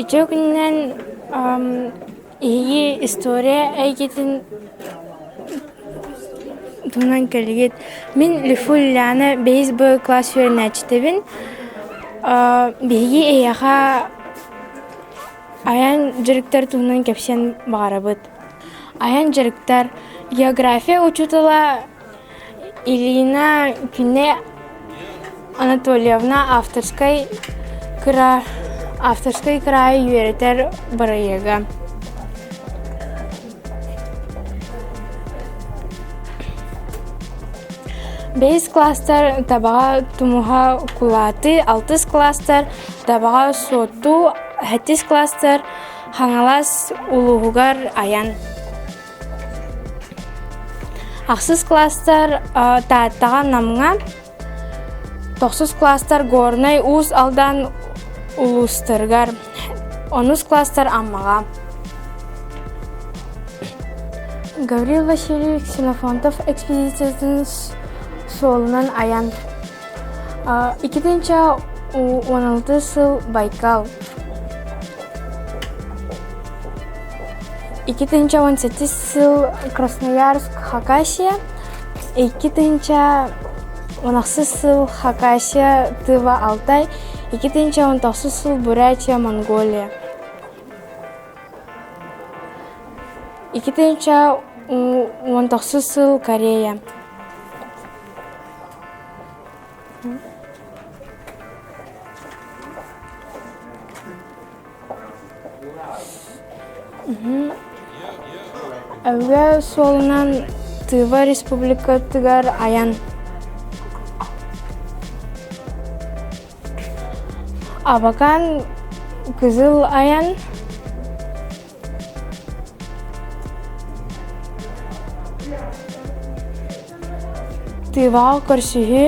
Үтүө күнүнэн иһийии история эйгэтин туһунан кэлигит. Мин Люфу Ильяна бэйис боевой класс үөрэнээччитэбин. Биһиги эйиэхэ айан дьарыктар туһунан кэпсиэн баҕарабыт. Айан дьарыктар география учуутала Ирина кинэ Анатольевна авторскай кыра авторскай кыраайы үөрэтэр бырайыага бэһис кластар табаҕа тумуһа кулааты алтыс кластар табаҕа суотту сэттис кластар хаҥалас улууһугар айан Ахсыс кластар Тааттаҕа Намҥа, тохсус кластар Горнай Уус Алдан улуустарыгар, онус кластар Аммаҕа. Гаврил Васильевич Ксенофонтов экспедициятын суолунан айан Иккитинчэ уон алты сыл Байкал. Iki тысяча он sekiz сыл Красноярск Хакасия. Iki тысяча он алты сыл Хакасия Тыва Алтай. Iki тысяча он тоғыз сыл Бурятия Монголия. Iki тысяча он тоғыз сыл Корея. Өбө суолунан Тыва республикатыгар айан Абакан кызыл айан Тыва көрсүһү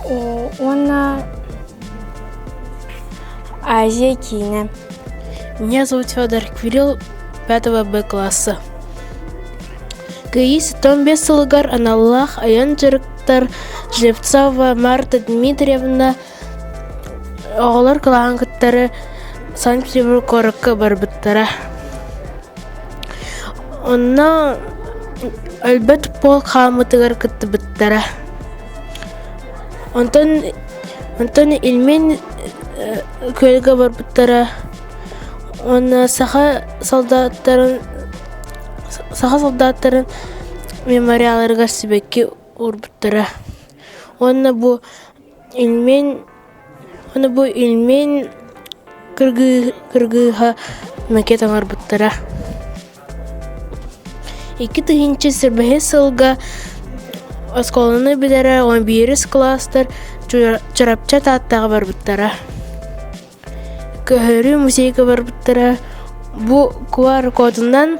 уонна Азия киинэ. Меня зовут Федор, Кирилл пятого Б класса. Кыыс том бес сылыгар аналлаах айан дьарыктар Жевцова Марта Дмитриевна Оҕолор кылааһын кыттары Санкт-Петербург куоракка барбыттара. Онно өлбөт полк хааммытыгар кыттыбыттара. Онтон онтон Ильмин күөлгэ барбыттара уонна саха солдаттарын саха солдаттарын мемориалларыгар сибэкки уурбуттара уонна бу Ильмень Ону бу Ильмень кыргыыһа макет оҥорбуттара Икки тыһыынча сэрбэһи сылга оскуоланы бүтэрэ уон биирис кылаастар Чурапчы Тааттаҕа барбыттара Көһөрүү музейга барбыттара Бу QR-кодунан